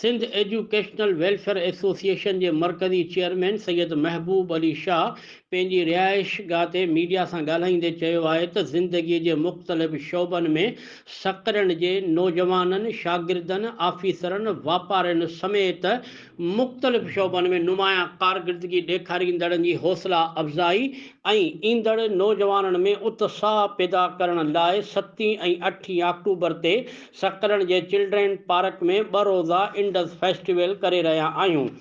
Sindh educational welfare association جي مرڪزي chairman Syed Mehboob Ali Shah پنهنجي رهائش گاهه تي ميڊيا سان ڳالهائيندي چيو آهي ته زندگي جي مختلف شعبن ۾ سڪرنڊ جي نوجوانن، شاگردن، آفيسرن، واپارين سميت مختلف شعبن ۾ نمايان ڪارڪردگي ڏيکاريندڙن جي حوصلا افزائي ۽ ايندڙ نوجوانن ۾ اتساھ پيدا ڪرڻ لاء ستين ۽ اٺين آڪٽوبر تي سڪرنڊ جي چلڊرين پارڪ ۾ ٻه روزه انڊس فيسٽيول ڪري رهيا آهيون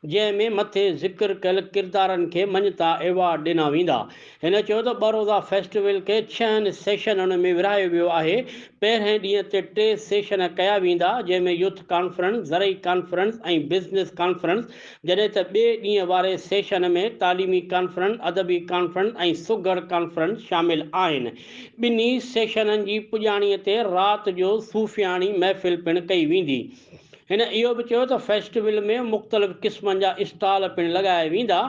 جنهن ۾ مٿي ذڪر ڪيل ڪردارن کي مڃتا ايوارڊ ڏنا ويندا هن چيو ته ٻه روزه فيسٽيول کي ڇهن سيشنن ۾ ورهايو ويو آهي، پهرئين ڏينهن تي ٽي سيشن ڪيا ويندا، جنهن ۾ يوٿ ڪانفرنس، زرعي ڪانفرنس ۽ بزنس ڪانفرنس، جڏهن ته ٻئي ڏينهن واري سيشن ۾ تعليمي ڪانفرنس، ادبي ڪانفرنس ۽ سگهڙ ڪانفرنس شامل آهن. ٻنهي سيشنن جي پڄاڻي تي رات جو صوفياڻي محفل پڻ ڪئي ويندي. هن اهو به چيو ته فيسٽيول ۾ مختلف قسمن جا اسٽال پڻ لڳايا ويندا،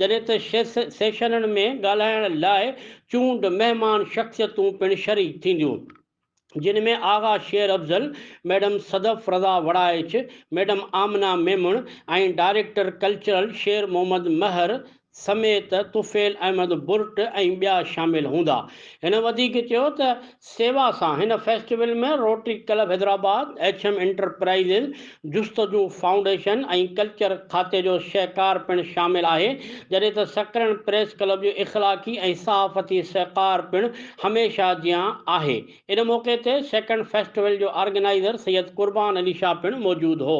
جڏهن ته سيشنن ۾ ڳالهائڻ لاء چونڊ مهمان شخصيتون پڻ شريڪ ٿينديون، جن ۾ Agha Sher Afzal, madam Sadaf Raza Warraich, madam Amna Memon ۽ director cultural Sher Muhammad Mahar سميت طفيل احمد برٽ ۽ ٻيا شامل هوندا. هن وڌيڪ چيو ته سيوا سان هن festival ۾ Rotary club Hyderabad, H M enterprises, Justuju foundation ۽ culture کاتي جو سهڪار پڻ شامل آهي، جڏهن ته سڪرنڊ پريس ڪلب جو اخلاقي ۽ صحافتي سهڪار پڻ هميشه جيان آهي. ان موقعي تي سيڪنڊ فيسٽيول جو آرگنائيزر سيد قربان علي شاهه پڻ موجود هو.